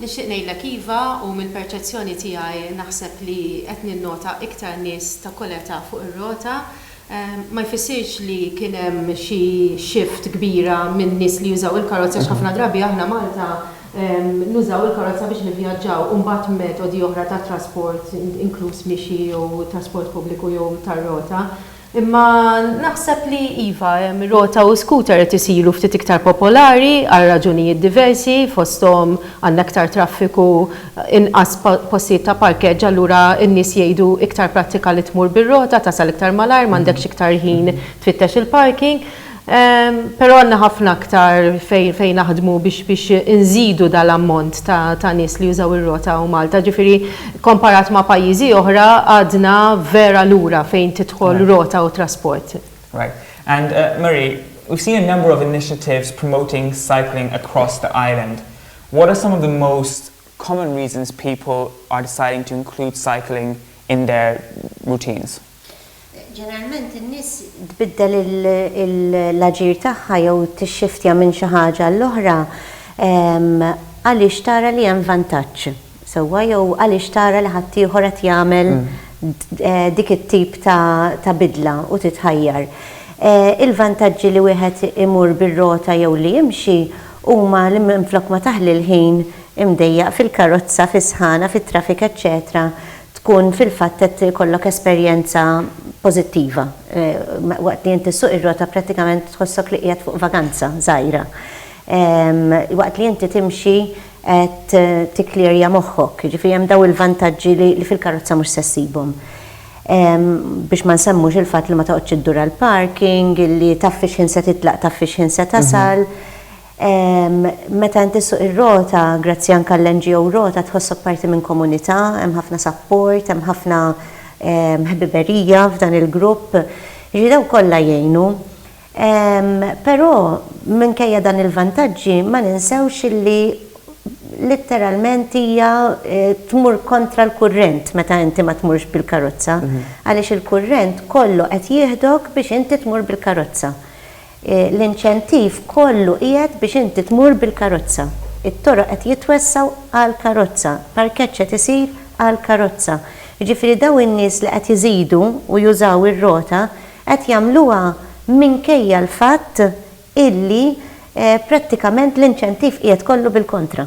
Nixtieq ngħidlek iva u mill-perċezzjoni tiegħi naħseb li qed ninnota iktar nies ta' kull età fuq ir-rota. Ma jfissirx li kien hemm xi shift kbira minn nies li jużaw il-karozza għax ħafna drabi aħna Malta nużaw il-karozza biex nivvjaġġaw u mbagħad metodi oħra ta' trasport inkluż mixi jew trasport pubbliku jew tar-rota. Imma naħseb li iva, rota u skuter qed isiru ftit iktar popolari għal raġunijiet diversi, fosthom għandna iktar traffiku, inqas postijiet ta' parkeġġ allura n-nies jgħidu iktar prattika li tmur bir-rota tasal iktar malajr m'għandekx iktar ħin tfittex il-parking. Però għandna ħafna aktar fejn naħdmu biex inżidu dan l-ammont ta' nies li jużaw ir-rota u Malta. Ġifieri komparat ma' pajjiżi oħra għadna vera lura fejn tidħol rota u trasport. Right. And Marie, we've seen a number of initiatives promoting cycling across the island. What are some of the most common reasons people are deciding to include cycling in their routines? Ġeneralment in-nies tbiddel l-aġir tagħha jew tixxiftja minn xi ħaġa għall-oħra għaliex tara li hemm vantaġġ sewwa jew għaliex tara li ħaddieħor qed jagħmel dik it-tip ta' bidla u titħajjar. Il-vantaġġi li wieħed imur bir-rota jew li jimxi huma li minflok ma taħli l-ħin imdejjaq fil-karozza, fis-sħana, fit-traffic eċċetera tkun fil-fatt qed ikollok esperjenza pożittiva waqt li inti ssuq ir-rota prattikament tħossok li qiegħed fuq vaganza żgħira. Waqt li inti timxi qed tikklearja moħħok, jiġifieri hemm dawn il-vantaġġi li fil-karozza mhux se ssibhom. Biex ma nsemmux il-fatt li ma toqgħodx iddur għall-parking, li taf fix-ħin se titlaq taf fix-ħin se tasal. Meta inti ssuq ir-Rota, grazzi anke għall-NGO Rota, tħossok parti minn komunità, hemm ħafna sapport, hemm ħafna ħbiberija f'dan il-grupp. Jiġifieri dawn kollha jgħinu. Però minkejja dan il-vantaġġi ma ninsewx illi litteralment hija tmur kontra l-kurrent meta inti ma tmurx bil-karozza għaliex il-kurrent kollu qed jieħdok biex inti tmur bil-karozza. L-inċentiv kollu qiegħed biex inti tmur bil-karozza. It-toroq qed jitwessgħu għall-karozza, parkeġġ qed isir għall-karozza. Jiġifieri dawn in-nies li qed iżidu u jużaw ir-rota qed jagħmluha minkejja l-fatt illi prattikament l-inċentiv qiegħed kollu bil-kontra.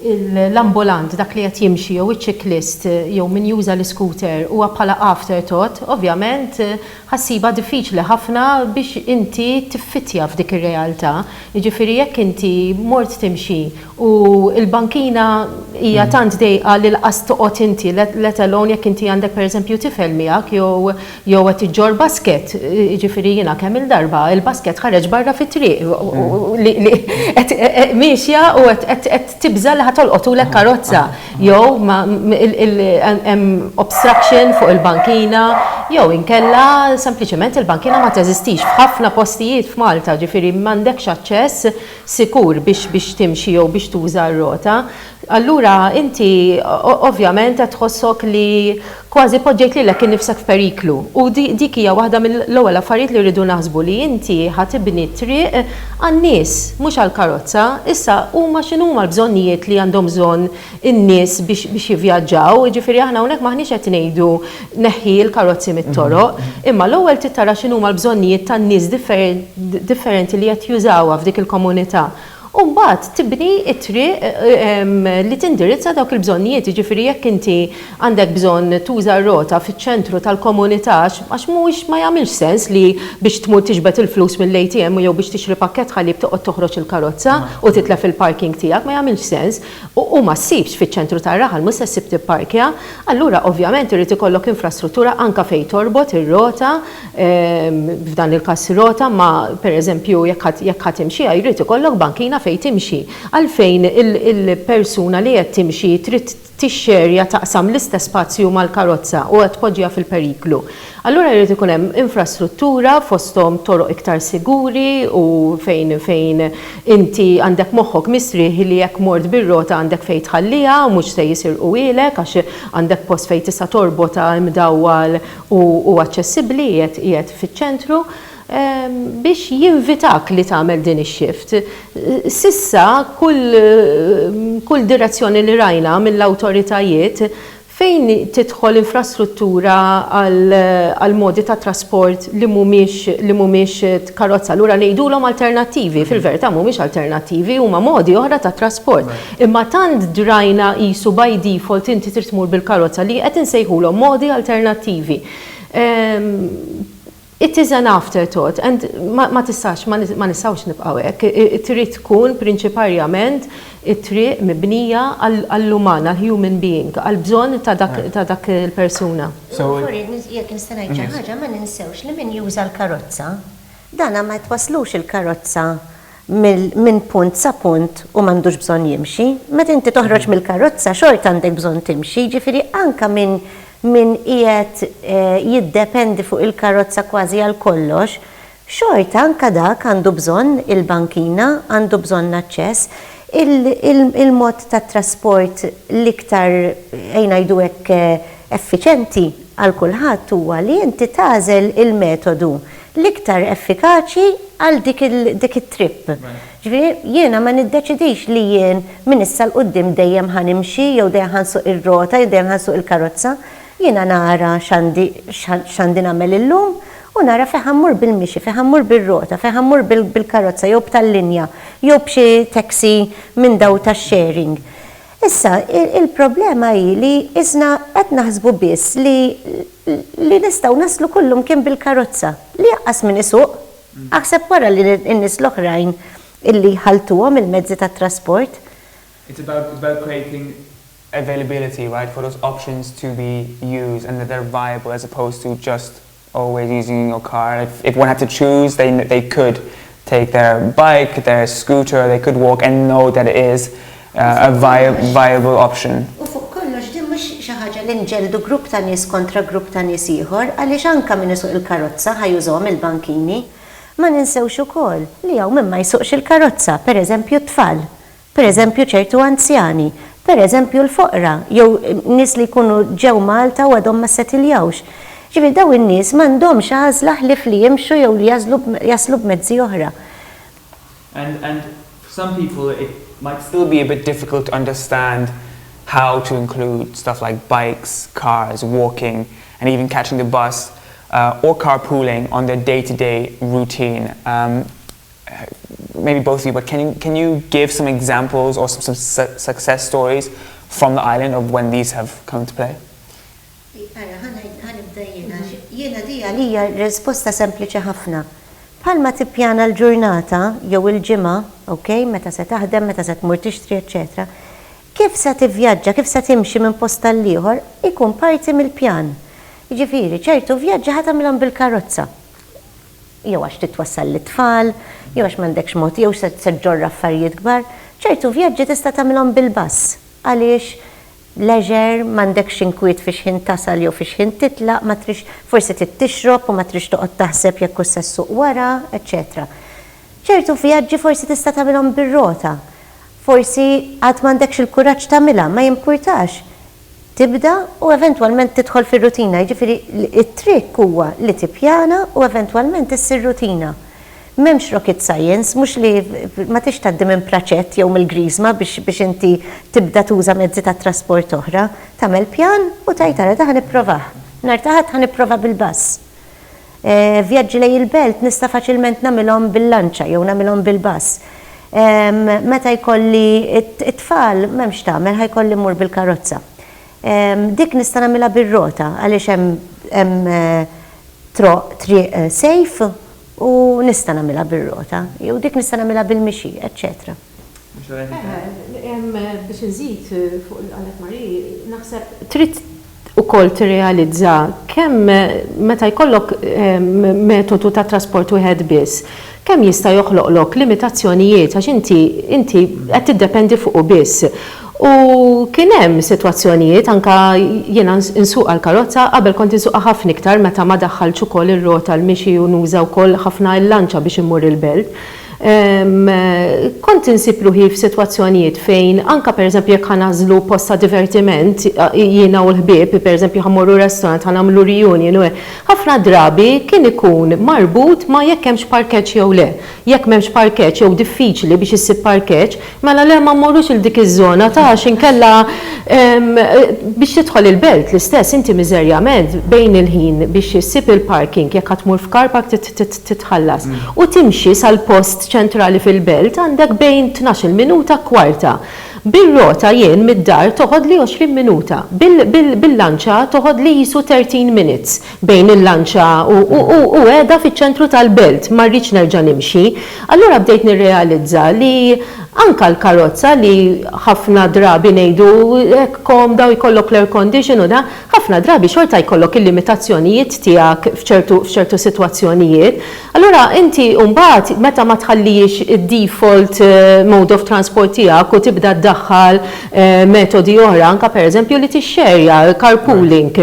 l-ambulant, dak li qed jimxi jew iċ-ċiklist jew min juża l-iskuter huwa bħala afterthought, ovvjament ħa ssibha diffiċli ħafna biex inti tiffittja f'dik ir-realtà. Jiġifieri jekk inti mort timxi u l-bankina hija tant dejqa li laqas toqgħod inti, let alone jekk inti għandek pereżempju tifel miegħek jew Jew qed iġġorr basket, jiġifieri jiena kemm-il darba l-basket ħareġ barra fit-triq li qed miexja u qed tibża' li ħa tolqotulek karozza. Jew hemm obstruction fuq il-bankina, jew inkella sempliċement il-bankina ma teżistix. F'ħafna postijiet f'Malta, jiġifieri m'għandekx aċċess sikur biex timxi jew biex tuża r-rota. Allura inti ovvjament qed tħossok li kważi poġġejt lilek innifsek f'periklu. U dik hija waħda mill-ewwel affarijiet li rridu naħsbu li inti ħa tibni t-triq għan-nies, mhux għall-karozza. Issa huma x'inhuma l-bżonnijiet li għandhom bżonn in-nies biex jivvjaġġaw? Jiġifieri aħna hawnhekk m'aħniex qed ngħidu neħħi l-karozzi mit-toroq, imma l-ewwel trid tara x'inhuma l-bżonnijiet tan-nies differenti li qed jużawha f'dik il-komunità. u mbagħad tibni t-triq li tindirizza dawk il-bżonnijiet, jiġifieri jekk inti għandek bżonn tuża r-rota fiċ-ċentru tal-komunità għax mhuwiex ma jagħmilx sens li biex tmur tiġbed il-flus mill-ATM jew biex tixtri pakkett ħalib toqgħod toħroġ il-karozza u titlef il-parking tiegħek ma jagħmilx sens u ma ssibx fiċ-ċentru tar-raħal mhux se ssib tipparkja, allura ovvjament irid ikollok infrastruttura anke fejn torbot ir-rota f'dan il-każ rota, ma pereżempju jekk ħa timxiha jrid ikollok bankina fejn timxi. Għalfejn il-persuna li qed timxi trid tixxerja, taqsam l-istess spazju mal-karozza u qed tpoġġiha fil-periklu? Allura jrid ikun hemm infrastruttura fosthom toroq iktar siguri u fejn inti għandek moħħok mistrieħ li jekk mort bir-rota għandek fejn tħalliha u mhux se jisirquhielek għax għandek post fejn tista' torbotha imdawwal u hu aċċessibbli, qiegħed qiegħed fiċ-ċentru biex jinvitak li tagħmel din ix-shift. S'issa kull kull direzzjoni li rajna mill-awtoritajiet fejn tidħol infrastruttura għal għal modi ta' trasport li mhumiex li mhumiex karozza allura ngħidulhom alternattivi, fil-verità mhumiex alternattivi huma modi oħra ta' trasport. Imma tant drajna qisu by default inti trid tmur bil-karozza li qed insejħulhom modi alternattivi. It is an afterthought and ma tistax, ma nistgħux nibqgħu hekk. Trid tkun prinċiparjament it-triq mibnija għall-uman, għall-human being, għall-bżonn ta' dak il-persuna. Sorry, jekk nista' ngħid xi ħaġa, ma ninsewx li min juża l-karozza, dan ma twasslux il-karozza minn punt sa punt u m'għandux bżonn jimxi. Meta inti toħroġ mill-karozza xorta għandek bżonn timxi, jiġifieri anke minn min qiegħed jiddependi fuq il-karozza kważi għal kollox, xorta anke dak għandu bżonn il-bankina, għandu bżonn l-aċċess. Il-mod ta' trasport l-iktar, ejn ngħidu hekk, effiċenti għal kulħadd huwa li inti tagħżel il-metodu l-iktar effikaċi għal dik it-trip. Ġifieri, jiena ma niddeċidix li jien minn issa 'l quddiem dejjem ħa nimxi jew dejjem ħa nsuq ir-rota jew dejjem ħa nsuq il-karozza. Jiena nara x'għandi x'għandi nagħmel illum u nara fejn ħa mmur bil-mixi, fejn ħa mmur bir-rota, fejn ħa mmur bil-karozza jew b'tal-linja jew b'xi taxi minn dawn tax-sharing. Issa, il-problema hi li isna qed naħsbu biss li li nistgħu naslu kullimkien bil-karozza, li aqqas min isuq. Aħseb wara li n-nies l-oħrajn illi jħalltuhom il-mezzi tat-trasport. It's about it's about creating availability, right, for those options to be used and that they're viable as opposed to just always using your car. If if one had to choose they they could take their bike, their scooter, they could walk and know that it is uh, a viable option. U fuq kollox din mhux xi ħaġa li nġeldu grupp ta' nies kontra grupp ta' nies ieħor għaliex anke min isuq il-karozza ħajużhom il-bankini. Ma ninsewx ukoll li hawn min ma jsuqx il-karozza, pereżempju t-tfal. pereżempju ċertu anzjani, pereżempju l-foqra jew nies li jkunu ġew Malta u għadhom ma ssetiljawx. Jiġifieri dawn in-nies m'għandhomx għażla ħlief li jimxu jew li jagħżlu jaslu b'mezzi oħra. And and for some people it might still be a bit difficult to understand how to include stuff like bikes, cars, walking and even catching the bus or carpooling on their day-to-day routine. maybe both of you, but can you, can you give some examples or some, some su- success stories from the island of when these have come into play? Ara, ħanajt- ħanibda jiena, għax jiena di għalija risposta sempliċi ħafna. Bħalma tippjana l-ġurnata jew il-ġimgħa, ok, meta se taħdem, meta se tmur tixtri, eċċetera kif se tivvjaġġa, kif se timxi minn post tal-ieħor, ikun parti mill-pjan. Jiġifieri, ċertu vjaġġi ħa tagħmilhom bil-karozza. jew għax trid twassal lit-tfal, jew għax m'għandekx mod, jew se ġġorr affarijiet kbar, ċertu vjaġġi tista' tagħmilhom bil-bass għaliex leisure, m'għandekx inkwiet fi x'ħin tasal jew fi x'ħin titlaq, ma tridx, forsi trid tixrob u ma tridx toqgħod taħseb jekk hux se ssuq wara, eċċetera. Ċertu vjaġġi forsi tista' tagħmilhom bir-rota. Forsi għad m'għandekx il-kuraġġ tagħmilha, ma jimpurtax. tibda u eventwalment tidħol fir-rutina. Jiġifieri t-trikk huwa li tippjana u eventwalment issir rutina. M'hemmx rocket science, mhux li ma tridx tgħaddi minn Pratchett jew mill-Griżma biex biex inti tibda tuża mezzi ta' trasport oħra. Tagħmel pjan u tgħid ara da ħa nipprovah. Nhar ta' Ħadd ħa nipprova bil-bass. Vjaġġi lejn il-belt nista' faċilment nagħmilhom bil-lanċa jew nagħmilhom bil-bass. Meta jkolli t-tfal m'hemm x'tagħmel ħa jkolli mmur bil-karozza. Dik nista' nagħmilha bir-rota għaliex hemm troq, triq safe u nista' nagħmilha bir-rota jew dik nista' nagħmilha bil-mixi, eċċetera. Biex inżid fuq li qalet Marie, naħseb trid ukoll tirrealizza kemm meta jkollok metodu ta' trasport wieħed biss, kemm jista' joħloqlok limitazzjonijiet għax inti inti qed tiddependi fuqu biss. U kien hemm sitwazzjonijiet anke jiena nsuqha l-karozza, qabel kont insuqha ħafna iktar meta ma daħħaltx ukoll ir-rota l-mixi u nuża wkoll ħafna l-lanċa biex immur il-belt. Kont insib ruħi f'sitwazzjonijiet fejn anke pereżempju jekk ħa nagħżlu post ta' divertiment jiena u l-ħbieb, pereżempju ħa mmorru restaurant, ħa nagħmlu reunion u hekk, ħafna drabi kien ikun marbut ma' jekk hemmx parkeġġ jew le. Jekk m'hemmx parkeġġ jew diffiċli biex issib parkeġġ, Mela le ma mmorrux 'il dik iż-żona ta' għax inkella biex tidħol il-belt l-istess inti miżerjament bejn il-ħin biex issib il-parking jekk ħa tmur f'car park trid titħallas u timxi sal-post ċentrali fil-belt għandek bejn tnax-il minuta kwarta. Bir-rota jien mid-dar toħodli għoxrin minuta. Bil-lanċa toħodli qisu thirteen minutes. bejn il-lanċa u, u, u, u qiegħda fiċ-ċentru tal-belt, ma rridx nerġa' nimxi. Allura bdejt nirrealizza li anka l-karozza li ħafna drabi ngħidu hekk komda u jkollok l-air condition u da, ħafna drabi xorta jkollok il-limitazzjonijiet tiegħek f'ċertu, f'ċertu sitwazzjonijiet. Allura inti mbagħad meta ma tħallihiex id-default mode of transport tiegħek u tibda ddaħħal metodi oħra, anka pereżempju li tixxerja, carpooling,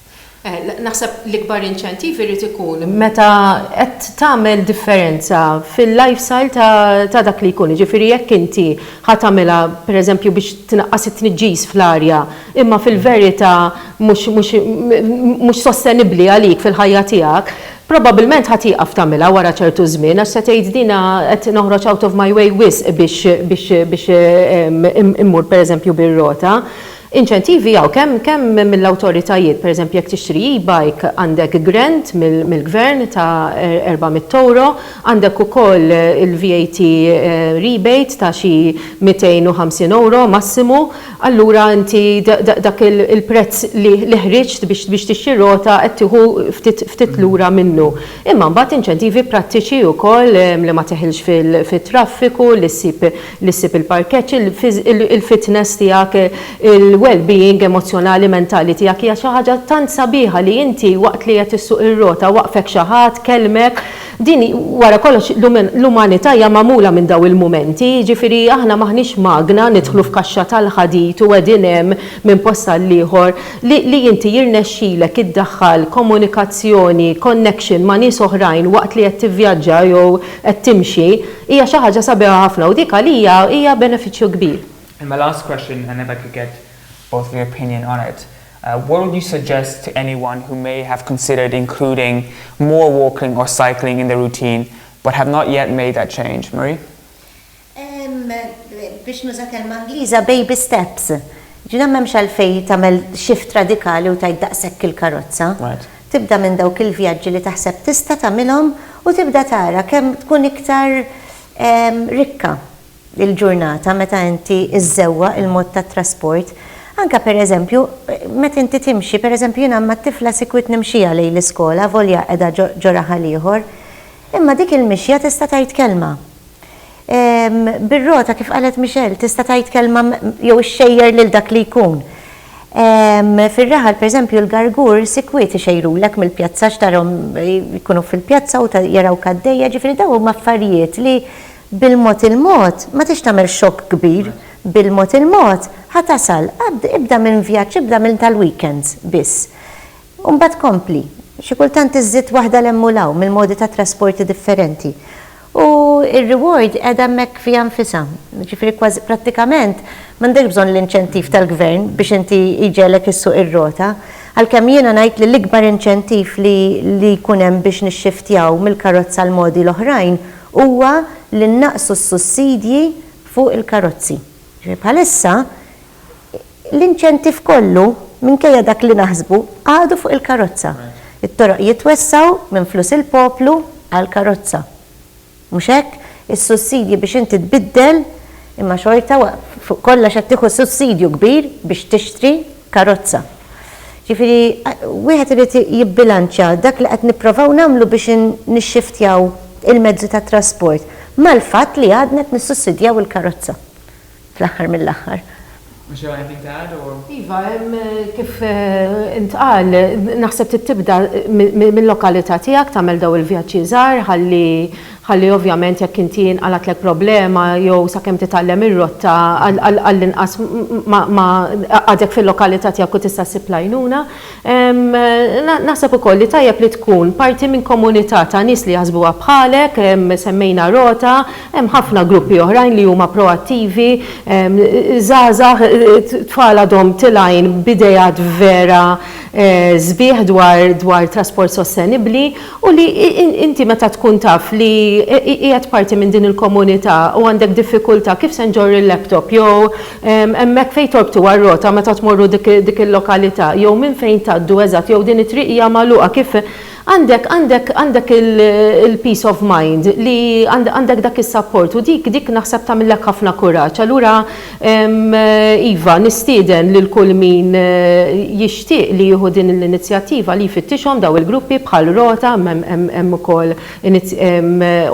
Naħseb l-ikbar inċentiv irid ikun meta qed tagħmel differenza fil-lifestyle ta' dak li jkun, jiġifieri jekk inti ħa tagħmilha pereżempju biex tnaqqas it-tniġġis fl-arja imma fil-verità mhux sostenibbli għalik fil-ħajja tiegħek, probabbilment ħa tieqaf tagħmilha wara ċertu żmien għax se tgħid din qed noħroġ out of my way wisq biex immur pereżempju bir-rota. Inċentivi hawn kemm kemm mill-awtoritajiet, pereżempju jekk tixtri e-bike għandek grant mill-gvern ta' erba' mitt ewro, għandek ukoll il-VAT rebate ta' xi mitejn u ħamsin ewro massimu, allura inti dak il-prezz li ħriġt biex tixtri rota qed tieħu ftit lura minnu. Imma mbagħad inċentivi prattiċi wkoll li ma teħilx fit-traffiku, li ssib li ssib il-parkeġġ, il-fitness tiegħek, il-wellbeing emozzjonali, mentali tiegħek hija xi ħaġa tant sabiħa li inti waqt li qed issuq ir-rota waqfek xi ħadd, kellmek. Din wara kollox l-umanità hija magħmula minn dawn il-mumenti, jiġifieri aħna m'aħniex magna nidħlu f'kaxxa tal-ħadid u qegħdin hemm minn post għall-ieħor. Li inti jirnexxilek iddaħħal komunikazzjoni, connection ma' nies oħrajn waqt li qed tivvjaġġa jew qed timxi, Hija xi ħaġa sabiħa ħafna u dik għalija hija benefiċċju kbir. And my last question and if I could get both of your opinion on it, what would you suggest to anyone who may have considered including more walking or cycling in their routine but have not yet made that change? Marie? Ehm, biex nuża kelma Ingliża baby steps. Ġifieri m'hemmx għalfejn tagħmel shift radikali u tgħid daqshekk il-karozza. Tibda minn dawk il-vjaġġi li taħseb tista' tagħmilhom u tibda tara kemm tkun iktar rikka l-ġurnata meta inti żżewwaq il-mod tat-trasport. Anke pereżempju, meta inti timxi, pereżempju jiena mat-tifla sikwit nimxiha lejn l-iskola avolja qiegħda ġo raħal ieħor. Imma dik il-mixja tista' tgħid kelma. Bir-rota, kif qalet Michelle, tista' tgħid kelma jew ixxejjer lil dak li jkun. Fir-raħal, pereżempju, l-gargur sikwit ixejrulek mill-pjazza għax tarahom jkunu fil-pjazza u jarawk għaddejja, jiġifieri dawn huma affarijiet li bil-mod il-mod, ma trix tagħmel xokk kbir, bil-mod il-mod ħa tasal, ibda minn vjaġġ, ibda minn tal-weekends biss. U mbagħad kompli. Xi kultant iżżid waħda 'l hemm u 'l hawn mill-modi tat-trasporti differenti. U r-reward qiegħda hemmhekk fiha nfisha. Jiġifieri kważi prattikament m'għandekx bżonn l-inċentiv tal-gvern biex inti jġegħlek issuq ir-rota. Għalkemm jiena ngħid li l-ikbar inċentiv li li jkun hemm biex nixxiftjaw mill-karozza għal modi l-oħrajn huwa li nnaqqsu s-sussidji fuq il-karozzi. Jiġifieri bħalissa l-inċentiv kollu, minkejja dak li naħsbu, għadu fuq il-karozza. It-toroq jitwessgħu minn flus il-poplu għall-karozza. Mhux hekk? Is-sussidji biex inti tbiddel, imma xorta fuq kollox qed tieħu sussidju kbir biex tixtri karozza. Ġifieri, wieħed irid jibbilanċja dak li qed nipprovaw nagħmlu biex nixxiftjaw il-mezzi tat-trasport mal-fatt li għadna qed nissussidjaw il-karozza. fl-aħħar mill-aħħar. Mhux hemm għalfejn tgħad u. Iva, hemm kif intqal, naħseb trid tibda mil-lokalità tiegħek tagħmel dawn il-vjaġġi żgħar ħalli ħalli ovvjament jekk inti inqalgħatlek problema jew sakemm titgħallem ir-rotta għall-inqas ma għadek fil-lokalità tiegħek u tista' ssib l-għajnuna. Naħseb ukoll li tajjeb li tkun parti minn komunità ta' nies li jaħsbuha bħalek, semmejna Rota, hemm ħafna gruppi oħrajn li huma proattivi, żgħażagħ, tfal għadhom tilgħin b'ideat vera sbieħ dwar trasport sostenibbli u li inti meta tkun taf li qiegħed parti minn din il-komunità u għandek diffikultà kif se nġorr il-laptop jew Hemmhekk fejn torbtu għar-rota meta tmorru dik il-lokalità jew minn fejn tgħaddu eżatt jew din it-triq hija magħluqa kif għandek għandek għandek il-peace of mind li għandek dak is-sapport u dik dik naħseb tagħmillek ħafna kuraġġ. Allura iva nistieden lil kull min jixtieq li jieħu din l-inizjattiva li jfittixhom dawn il-gruppi bħal rota imma hemm ukoll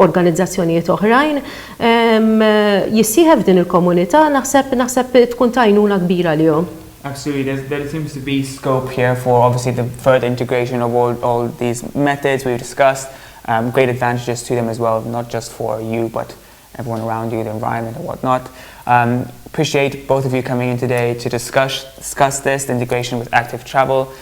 organizzazzjonijiet oħrajn. jissieħeb f'din il-komunità naħseb naħseb tkun ta' għajnuna kbira għalihom. Actually there's there seems to be scope here for obviously the further integration of all all these methods we've discussed um, great advantages to them as well not just for you but everyone around you the environment and whatnot um, appreciate both of you coming in today to discuss discuss this the integration with active travel